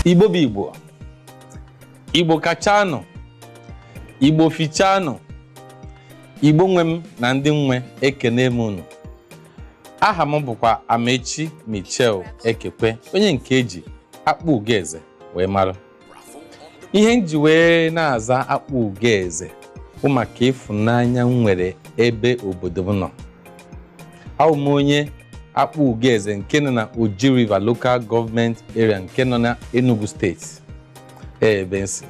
igbo bụ igbo igbo kachanụ igbo fichanụ igbo nwe m na ndị nwe ekene m unu aha m bụkwa amaechi michel ekekwe onye nke e ji akpugoeze wee mara ihe m ji wee na-aza akpugoeze bụ maka ịfụnanya m nwere ebe obodo m nọ abụ m onye akpugoeze nke nọ na Oji River Local Government Area nke nọ na Enugu steeti ebe m si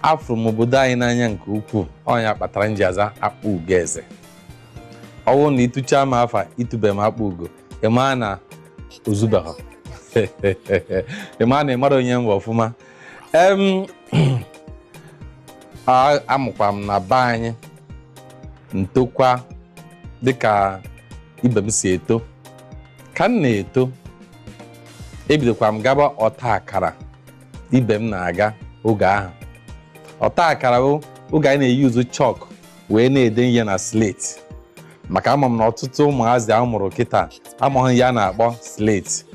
afụrụ m obodo anyị n'anya nke ukwuu ọ nya kpatara m ji aza akpugoeze ọ bụrụ na ị tụchaa m afa ị tụbe m akpugo ị maa na o zubeghị ị maa na ị mara onye m bụ ọfụma em a- a mụkwa m na be anyị m tokwa dịka ibe m si eto ka m na-eto ebidokwa m gaba ọta akara ibe m na-aga oge ahụ ọta akara bụ oge anyị na-euse chalk wee na-ede ihe na slate maka ama m na ọtụtụ ụmụazị a mụrụ kịta amaghị ihe a na-akpọ slate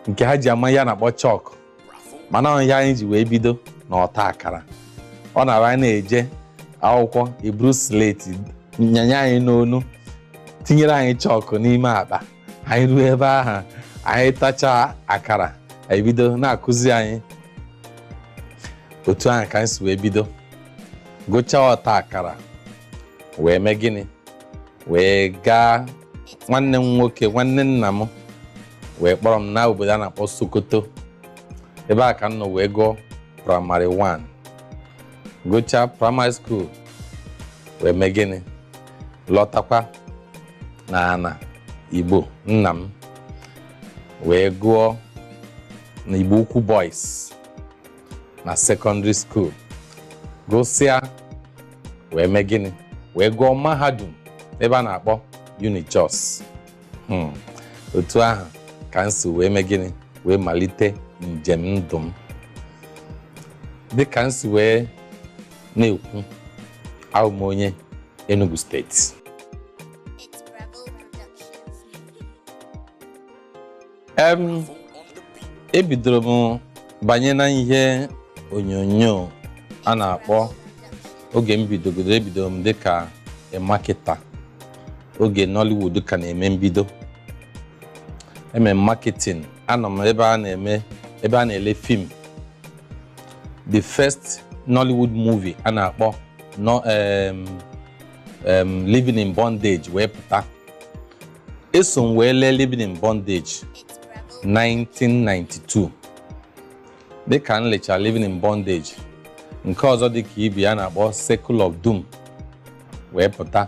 nke ha ji ama ihe a na-akpọ chalk mana ọ ihe anyị ji wee bido na ọta akara ọ na-abụ anyị na-eje akwụkwọ e buru slate nyanye anyị n'onu tinyere anyị chalk n'ime akpa anyị ruo ebe ahụ anyị tachaa akara e bido na-akụzi anyị otu ahụ ka anyị si wee bido gụchaa ọta akara wee mee gịnị wee gaa nwanne m nwoke nwanne nna m wee kpọrọ m na obodo a na-akpọ Sokoto ebe a ka m nọ wee gụọ praịmarị 1 gụchaa praịmarị skuul wee mee gịnị lọtakwa na ana igbo nna m wee gụọ na igbo ukwu boys na sekọndịrị skuul gụsịa wee mee gịnị wee gụọ mahadum ebe a na-akpọ unijos Hmm. otu ahụ ka m si wee mee gịnị wee malite njem ndụ m dịka m si wee na-ekwu abụ m onye Enugu steeti em ebidoro m banye na ihe onyonyo a na-akpọ oge m bidogoro ebidoro m dịka marketer oge Nollywood ka na-eme mbido eme marketing anọ m ebe a na-eme ebe a na-ele fim the first Nollywood movie a na-akpọ no, um, um, Living in Bondage wee pụta eso m wee lee Living in Bondage 1992 dịka m lechara Living in Bondage nke ọzọ dịka ibe ya na-akpọ Circle of Doom wee pụta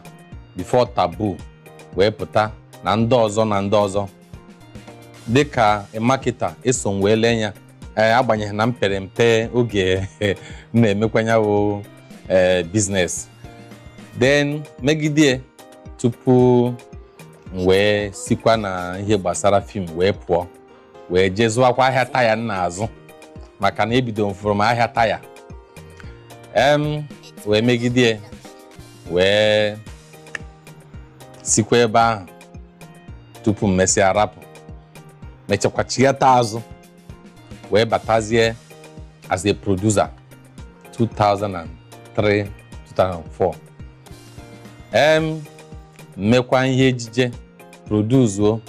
Before Taboo wee pụta na ndị ọzọ na ndị ọzọ dịka a marketer eso m wee lee ya ee agbanyeghị na m pere mpe oge m na-emekwa nya wụ ee business then megide tupu m wee sikwa na ihe gbasara film wee pụọ wee jee zụwakwa ahịa taya m na-azụ maka na ebido m fụrụ m ahịa taya em wee megide wee sikwa ebe ahụ tupu m mesịa rapụ mechakwa chighata azụ wee batazie as a producer 2003 2004 em m mekwa ihe ejije produzuo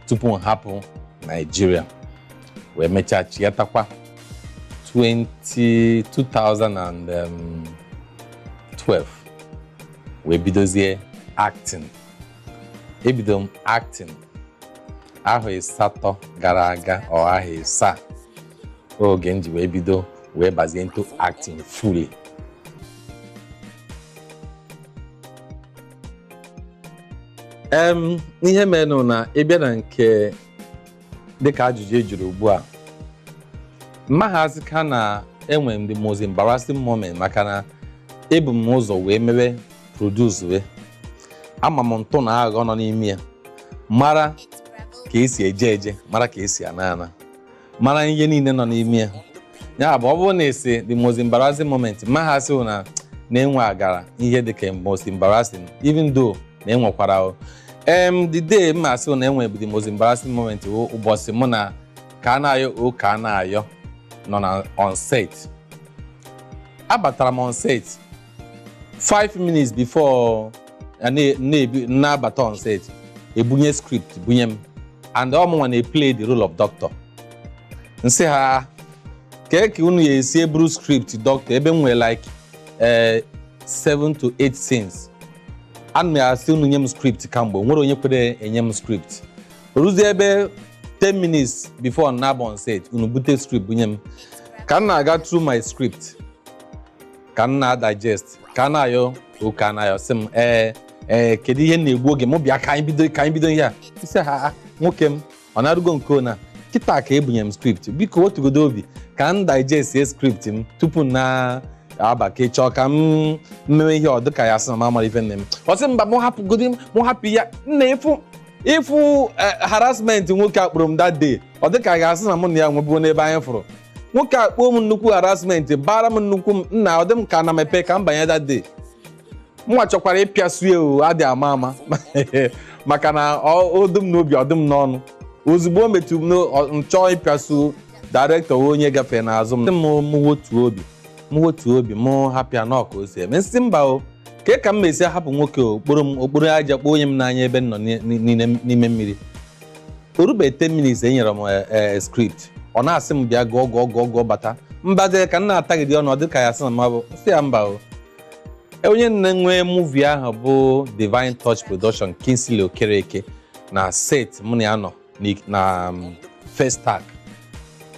tupu m hapụ Nigeria wee mechaa chighatakwa 20 2012 wee bidozie acting ebido m acting ahọ ịsatọ gara aga ọ ahọ ịsaa oge m ji wee bido wee bazie into acting fully em ihe menụ na ị bịa na nke dịka ajụjụ ị jụrụ ugbu a m maha asịkwa na enwere m the most embarrassing moment maka na ebu m ụzọ wee mewe produce ama m ntụ na aghọ nọ n'ime ya mara ka e si eje eje mara ka e si ana ana mara ihe niile nọ n'ime ya ya bụ ọ bụrụ na e sị the most embarrassing moment m maha asị na m nwegara ihe dị ka most embarrassing even though na enwekwara em the day m asị na enwe bụ the most embarrassing moment wụ ụbọchị mụ na Kanayo O. Kanayo nọ na on set abatara m on set 5 minutes before a na- na-ebi- na-abata on set e bunye script bunye m and ọ mụnwa na-eplay the role of doctor m sị ha kee ka unu ya-esi eburu script doctor ebe m nwere like eh, 7 to 8 scenes ana m asị unu nye m script kamgbe o nwerọ onye kwere enye m script o ruzie ebe 10 minutes before m na-aba on set unu bute script bunye m ka m na-aga through my script ka m na-digest Kanayo O. Kanayo sị m ee ee kedu ihe na-egbu oge mụ bịa ka anyị bido ka anyị bido ihe a nsị ya "Ah, nwoke m ọ na-arụgo nke ona kịta ka e bunyere m script biko wotugodu obi ka m digest ya script m tupu m na-aba ka ị chọọ ka m mewe ihe ọ dịka a ga-asị na m amarọ ife m na-eme ọ sị mba mụ hapụgodi m mụ hapụ ya nna ị fụ ị fụ eh, harassment nwoke a kporo m that day ọ dịka a ga-asị na mụ na ya nwebuo n'ebe anyị fụrụ nwoke a kpoo m nnukwu harassment bara m nnukwu mba nna ọ dị m ka ana mepe ka m banye that day mụwa chọkwara ịpịasu ya o adị ama ama maka na ọ- o dị m n'obi ọ dị m n'ọnụ ozugbo o metụ m n'o- ọ- m chọọ ịpịasu director wee onye gafee n'azụ m m m wotuo obi m wotuo obi m hapụ ya na ọ ka o si eme nsị mba o ke ka m mesi hapụ nwoke o o kporo m o kporo aja kponye m n'anya ebe m nọ ni- ni- n'ime n'ime mmiri o rube 10 minutes e nyere m eh, eh, script ọ na-asị m bịa gụọ gụọ gụọ gụọ bata mbaze ka m na-atagide ọnụ ọ dị ka a ga-asị na mabụ sị ya mba o E, onye nwe nwe movie ahụ bụ Divine Touch Production Kingsley Okereke na set mụ na ya nọ n'ik- na um, first take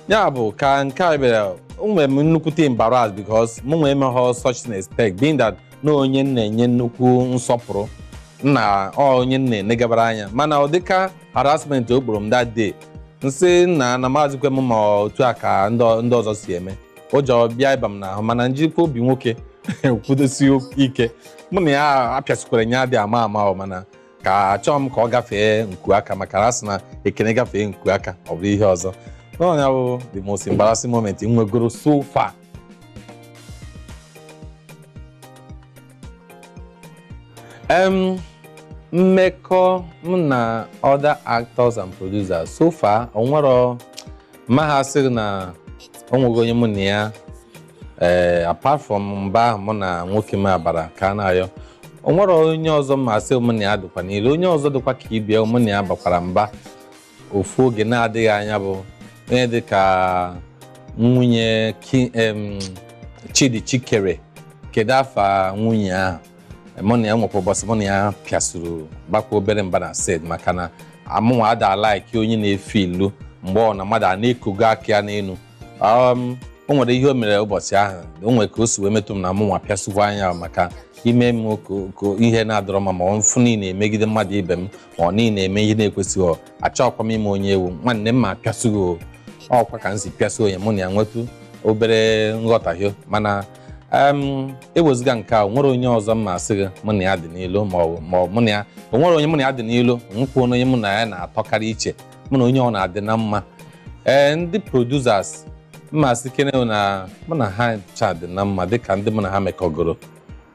ya bụ ka nke a bịara o nwere m nnukwute embarrassed because mụnwa emeghọ such an expect being that na onye m na-enye nnukwu nsọpụrụ na ọ onye m na-enegabara anya mana ụdịka harassment o kporo m that day nsị na na amazịkwa m ma otu a ka ndị ọ- ndị ọzọ si eme ụjọ bịa ịba m n'ahụ mana njikwa obi nwoke kwudosi ike mụ na ya apịasikwara ya adị ama ama ọ mana ka achọọ m ka ọ gafee nku aka maka na a sị na ekene gafee nku aka ọ bụrụ ihe ọzọ na ọ nya bụ the most embarrassing moment m nwegoro so far um, mmekọ m na other actors and producers so far onwero m ga-asịrị na onweghị onye mụ na ya ee eh, apart from mba ahụ mụ na nwoke m a bara Kanayo onwere onye ọzọ m ga-asị mụ na ya dịkwa n'ilo onye ọzọ dịkwa ka ibia mụ na ya bakwara mba ofu oge na-adịghị anya bụ onye dị ka nwunye Ki- em, Chidi Chikere kedu afa nwunye ahụ mụ na ya nwekwa ụbọchị mụ na ya pịasuru bakwa obere mba na set maka na mụnwa ada a-like onye na-efe elu mgbe ọ na mmadụ a na-ekogo aka ya n'elu um, o nwere ihe o mere ụbọchị ahụ o nwere ka o si wee metụ m na mụnwa pịasukwaa ya maka i me m ka- ka ihe na-adịrọ mma ma ọ m fụ na ị na-emegide mmadụ ibe m onye na-eme ihe na-ekwesịghị ọ achọghịkwa m ịma onye ị wụ nwanne m m apịasụ gị o ọkwa ka m si pịasụ onye mụ na ya nwetụ obere nghọtahie mana em, ewezụga nke a o nwere onye ọzọ m asị gị mụ na ya dị n'ilo ma ọ bụ- ma ọ bụ mụ na ya o nwere onye mụ na ya dị n'ilo nwekwa onye mụ na ya na-atọkarị iche mụ na onye ọbụla dị na mma ee ndị producers m asị kene na mụ na ha ncha dị na mma dịka ndị mụ na ha mekọgoro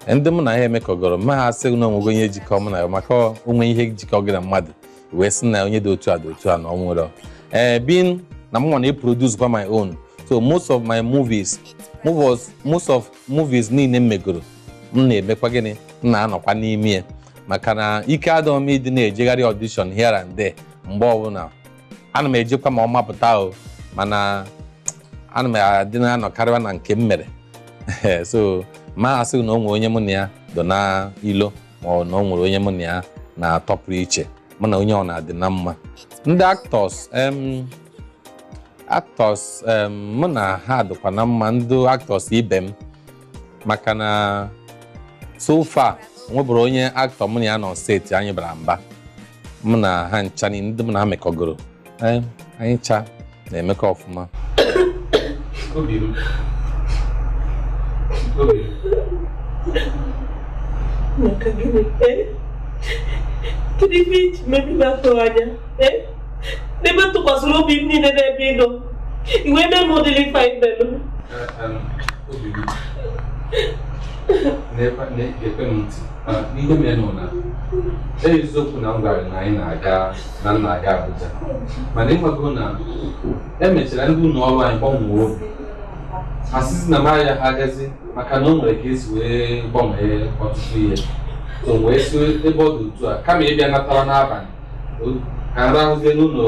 ndị mụ na ha emekọgoro ma ha sị na o nwego onye jikọ mụ na ya maka o nwee ihe jikọ gị na mmadụ ị wee sị na onye dị otu a dị otu a na o nwere ee being na mụ na produce kwa my own so most of my movies movies most of movies niile m megoro m na-emekwa gịnị m na-anọkwa n'ime ya maka na ike adọghị m ịdị na-ejegharị audition here and there mgbe ọbụla ana m ejekwa ma ọ mapụta o mana ana m adị na-anọkarịwa na nke m mere so ma asị na o nwere onye mụ na ya dọ na ilo ma ọ na o nwere onye mụ na ya na-atọpụrụ iche mụ na onye ọbụla dị na mma ndị actors em actors em mụ na ha dịkwa na mma ndị actors ibe m maka na so far nweburo onye actor mụ na ya nọ set anyị bara mba mụ na ha ncha niile ndị mụ na ha mekọgoro Ee, anyị ncha na-emekọ ọfụma Obi m. Obi m. maka gịnị ee kedu ife i ji mee ife m atụghị anya ee n'ebe m tụkwasịrị obi m niile n'ebe ị nọ i wee mee m ụdịrị ife a i melụ Em, na-ege m ntị n'ihe merenụ na eziokwu na m gwara na anyị na-aga na m na-aga Abuja mana ịmago na emechara ndị ụlọ ọrụ anyị gbanwee obi ha sịzị na m aha agazi maka na o nwere ka e si wee gbanwee ọtụtụ ihe so wee sị ebe ọ dị otu a kama ịbịa natara n'abalị ka m rahụzie n'ụlọ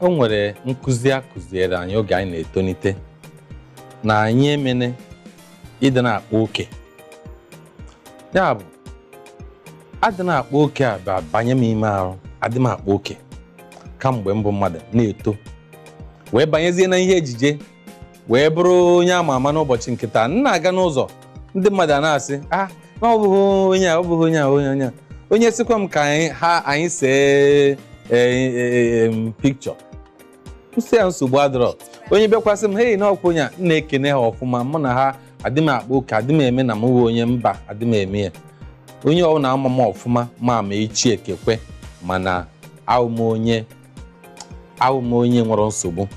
o nwere nkụzi a kụziere anyị oge anyị na-etonite na anyị emene ịdị na-akpa oke ya bụ adị na-akpa oke a abanye m ime arụ adị m akpa oke kamgbe mbụ mmadụ na-eto wee banyezie na ihe ejije wee bụrụ onye ama ama n'ụbọchị nke taa m na-aga n'ụzọ ndị mmadụ a na-asị ah na ọ bụghị onye a ọ bụghị onye a onye onye a onye sịkwa m ka anyị ha anyị see picture m sị ya nsogbu adọrọ onye bịakwa sị m hei na ọkwa onye a m na-ekene ha ọfụma mụ na ha adị m akpa oke adị m eme na m wụ onye mba adị m eme ya onye ọbụla ma m ọfụma ma ma echi ikekwe mana awụ m onye awụ m onye nwerọ nsogbu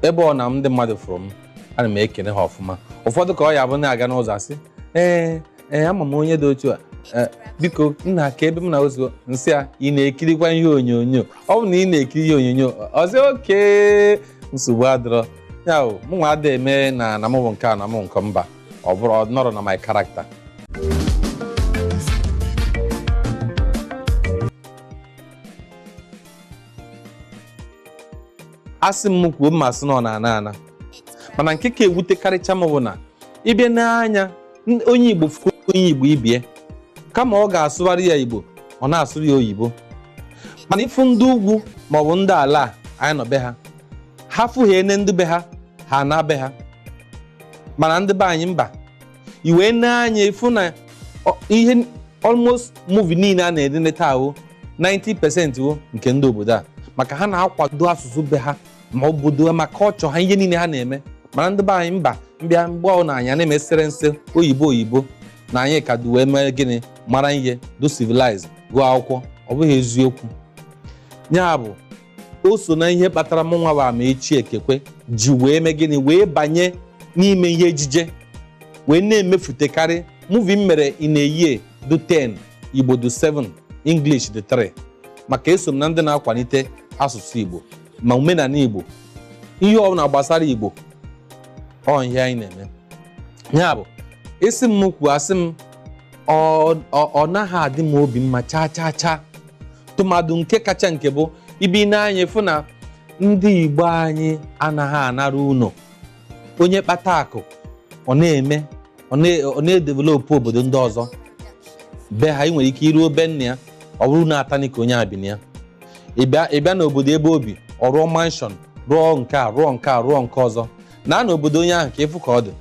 ebe ọbụna ndị mmadụ fụrụ m ana m ekene ha ọfụma ụfọdụ ka ọ ya-abụ na-aga n'ụzọ asị ee ee ama m onye dị otu a ee, biko nna aka ebe m na ozugbo m sị ya ị na-ekirikwa ihe onyonyo ọ bụ na ị na-ekiri ihe onyonyo ọ sị okay nsogbu adịrọ ya o mụ nwa ada eme na na mụ bụ nke a na mụ nke mba ọ bụrọ ọ nọrọ na my character asị m kwuo m ma-asị na ọ na-ana ana mana nke ka ewutekarịcha m bụ na ị bịa nee anya onye igbo fụ onye igbo ibe ya kama ọ ga-asụbara ya igbo ọ na-asụrụ ya oyibo mana ị fụ ndị ugwu maọbụ ndị ala anyị nọ be ha ha fụghene ndị be ha ha anaa be ha mana ndị be anyị mba i wee nee anya ị fụ na ọ- ihe n- almost movie niile a na-enene taa o 90% ọ wụ nke ndị obodo a maka ha na-akwado asụsụ be ha ma obodo ma kọlchọ ha ihe niile ha na-eme mana ndị be anyị mba mbịa mgbe ọbụna anyị na-emesere n'ịsụ oyibo oyibo na anyị ka dị wee mee gịnị mara ihe dụ civilize gụọ akwụkwọ ọ bụghị eziokwu ya bụ o so na ihe kpatara mụ nwa bụ Amaechi Ekekwe ji wee mee gịnị wee banye n'ime ihe ejije wee na-emefutekarị muvi m mere in a year dụ 10 Igbo dụ 7 English dụ 3 maka eso m na ndị na-akwalite asụsụ Igbo ma omenala Igbo ihe ọbụla gbasara Igbo ọ ihe anyị na-eme ya bụ ị sị m kwuo asị m ọ ọ- ọ naghị adị m obi mma chaa chaa chaa tụmadụ nke kacha nke bụ ị bịa nee anya fụ na ndị Igbo anyị anaghị anara ụnọ onye kpata akụ ọ na-eme ọ na- ọ na-edevelopụ obodo ndị ọzọ be ha ị nwere ike i ruo be nna ya ọ bụrụ ụnọ atanị ka onye a bi na ya ị bịa ị bịa n'obodo ebe o bi ọ rụọ manshọn rụọ nke a rụọ nke a rụọ nke ọzọ naa n'obodo onye ahụ ka ị fụ ka ọ dị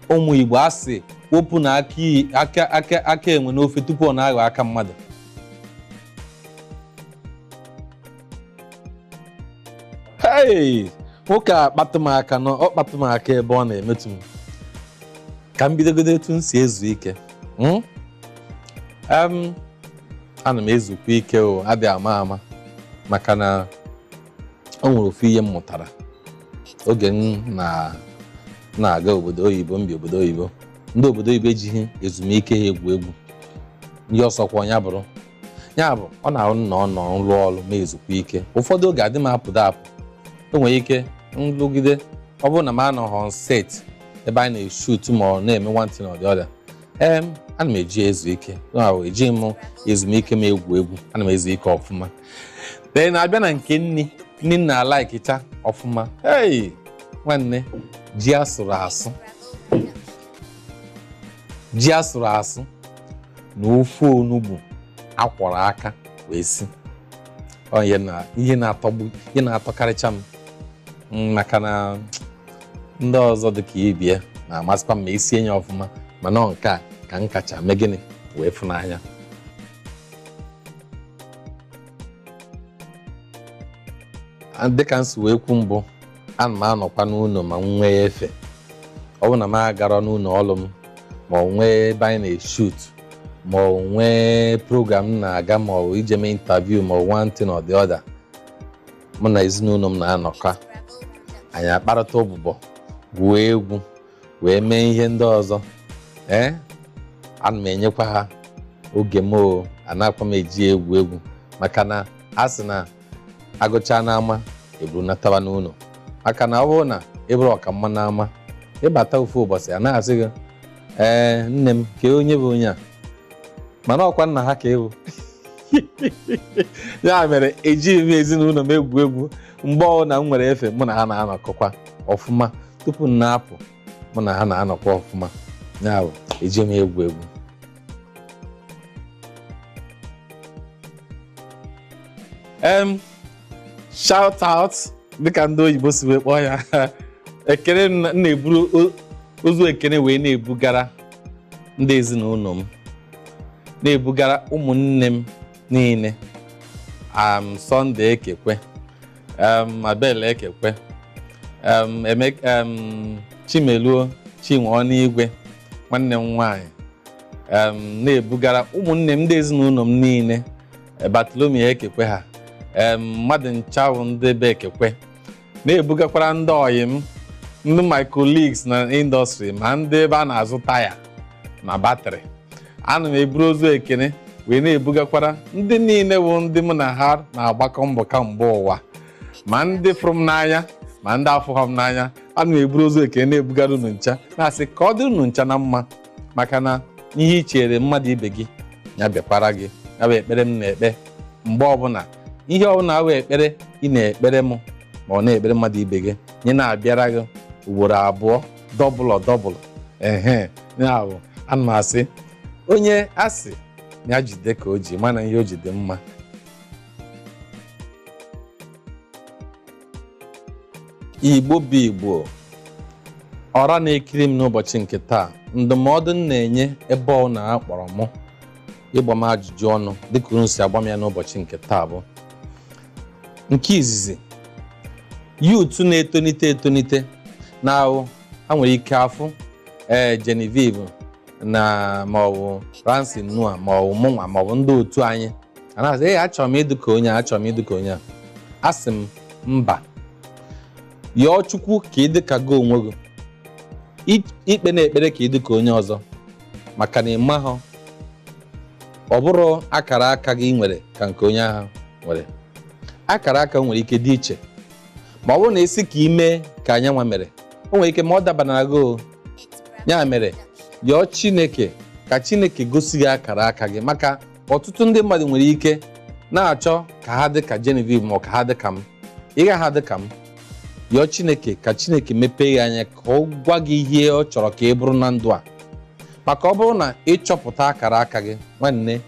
ụmụ igbo a sị wepụnụ aka iyi- aka aka aka enwe n'ofe tupu ọ na-aghọ aka mmadụ hei nwoke a kpatụ m aka nọ ọ kpatụ m aka ebe ọ na-emetụ m ka m bidogodo etu m si ezu ike Mm? Em, ana m ezukwa ike o adị ama ama maka na o nwere ofu ihe m mụtara oge m na- na-aga obodo oyibo m bi obodo oyibo ndị obodo oyibo ejighị ezumike ha egwu egwu onye ọ sọkwa ya bụrụ ya bụ ọ na-abụ na ọ nọ m rụọ ọrụ m ezukwa ike ụfọdụ oge adị m apụdụ apụ e nwere ike m rụgide ọ bụrụ na m anọghị on set ebe anyị na-eshut ma ọ na-eme one thing or the other ee ana m eji ezu ike ejighị m ezumike m egwu egwu ana m ezu ike ọfụma ee na-abịa na nke nni nni m na-alaikịcha ọfụma ei nwanne ji a sụrụ asụ na ofe onugbu a kwọrọ aka wee si ọ ihe na-atọkarịcha m Mm, maka na ndị ọzọ dị ka ibe ya na-amasịkwa m ma e sie ya ọfụma mana ọ nke a ka m kacha mee gịnị wee fụ n'anya dịka m si wee kwu mbụ ana m anọkwa n'ụlọ ma m nwee efe ọ bụrụ na m agarọ n'ụlọ ọrụ m ma ọ nwee ebe anyị na-eshoot ma ọ nwee program m na-aga ma ọ bụ ije mee interview ma ọ bụ one thing or the other mụ na ezinụlọ m na-anọkọ anyị akparịta ụbụbọ gwuo egwu wee mee ihe ndị ọzọ ee ana m enyekwa ha oge m o anaakwa m eji egwu egwu maka na a sị na a gụcha n'ama e bunatawa n'ụlọ maka na ọ bụrụ na ị bụrụ ọkamma n'ama ị bata ofu ụbọchị a na-asị gị ee nne m kee onye bụ onye a mana ọkwa nna ha ka ị wụ ya mere ejighị m ezinụlọ m egwu egwu mgbe ọbụla m nwere efe mụ na ha na-anọkọkwa ọfụma tupu m na-apụ mụ na ha na-anọkwa ọfụma ya bụ ejighị m egwu egwu em shout out dịka ndị oyibo si wee kpọọ ya ekene m na- m na-eburu o- ozu ekene wee na-ebugara ndị ezinụlọ m na-ebugara ụmụnne m niile am Sunday Ekekwe um, Abel Ekekwe um, em, um, Chimeluo Chinwe Ọnụigwe nwanne m nwanyị um, na-ebugara ụmụnne m ndị ezinụlọ m niile eh, Bartholomew Ekekwe ha um, mmadụ ncha wụ ndị be Ekekwe na-ebugakwara ndị ọyị m ndị my colleagues na industry ma ndị ebe a na-azụ taya na batrị ana m eburu ozu ekene wee na-ebugakwara ndị niile bụ ndị mụ na ha na-agbakọ mbọ kamgbe ụwa ma ndị fụrụ m n'anya ma ndị afụghọ m n'anya ana m eburu ozu ekene na-ebugara unu ncha na-asị ka ọ dịrị unu ncha na mma maka na ihe i chere mmadụ ibe gị ya bịakwara gị ya bụ ekpere m na-ekpe mgbe ọbụla ihe ọbụla awụ ekpere ị na-ekpere m ma ọ na-ekpere mmadụ ibe gị nye na-abịara gị ugboro abụọ double double ehe ya bụ ana m asị onye a sị na ya jide ka o ji mana ihe o ji dị mma igbo bụ igbo ọra na-ekiri m n'ụbọchị nke taa ndụmọdụ m na-enye ebe unu kpọrọ mụ ịgba m ajụjụ ọnụ dịka unu si agba m ya n'ụbọchị nke taa bụ nke izizi youth na-etonite etonite na ahụ ha nwere ike afụ ee Genevieve na maọbụ Ramsey Nouah maọbụ mụnwa maọbụ ndị otu anyị ha na-asị ee achọrọ m ịdị ka onye a achọrọ m ịdị ka onye a asị m mba yọọ Chukwu ka ị dị ka gị onwe gị I- ekpena ekpere ka ị dị ka onye ọzọ maka na ị mahụ ọ bụrụ akara aka gị nwere ka nke onye ahụ nwere akara aka nwere ike dị iche ma ọ bụrụ na ị sị ka i mee ka onye a nwa mere o nwere ike ma ọ dabanara gị ọ ya mere yọọ chineke ka chineke gosi gị akara aka gị maka ọtụtụ ndị mmadụ nwere ike na-achọ ka ha dị ka Genevieve ma ọ ka ha dị ka m ị gaghị adị ka m yọọ Chineke ka Chineke mepee gị anya ka ọ gwa gị ihe ọ chọrọ ka ị bụrụ na ndụ a maka ọ bụrụ na ị chọpụta akara aka gị nwanne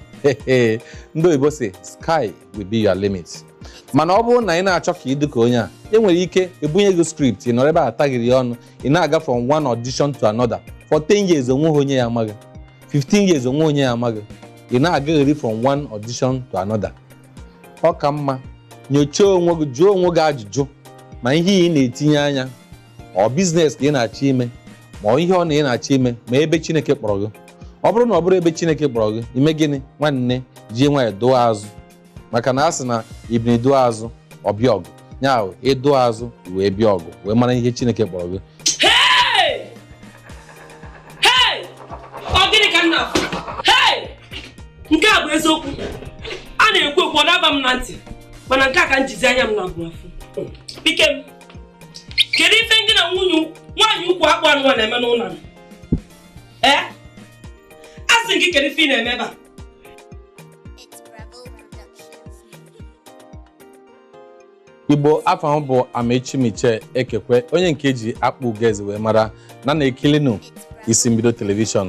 ndị oyibo sị sky will be your limit mana ọ bụrụ na ị na-achọ ka ị dị ka onye a e nwere ike e bunye gị script ị nọrọ ebe a taghịrị ya ọnụ ị na-aga from one audition to another for 10 years o nweghị onye ya-ama gị 15 years o nwe onye ya-ama gị ị na-agagheri from one audition to another ọ ka mma nyochaa onwe gị jụọ onwe gị ajụjụ ma ihe ị na-etinye anya ọ business ka ị na-achọ ime ma ọ ihe ọ na ị na-achọ ime ma ebe chineke kpọrọ gị ọ bụrụ na ọ bụrọ ebe chineke kpọrọ gị i mee gịnị nwanne jie nwayọ dụọ azụ maka na a sị na ebunu dụọ azụ ọ bịa ọgụ ya bụ ị dụọ azụ wee bịa ọgụ wee mara ihe chineke kpọrọ gị Hey! Hey! Ọ gịnị ka m na-afụ? Hey! Nke a bụ eziokwu. A na-ekwu ekwu ọ na-aba m na ntị. Mana nke a ka m jizi anya m naabọ afụ. Ikem. Kedu ife ngị na nwunye nwaanyị ukwu akpụ anụ a na-eme n'ụlọ m? Ee? Asị m gị kedu ife ị na-eme ebe a? igbo afa m bụ amaechi michael ekekwe onye nke e ji akpụ ugeze wee mara na na-ekilinụ isi mbido telivishọn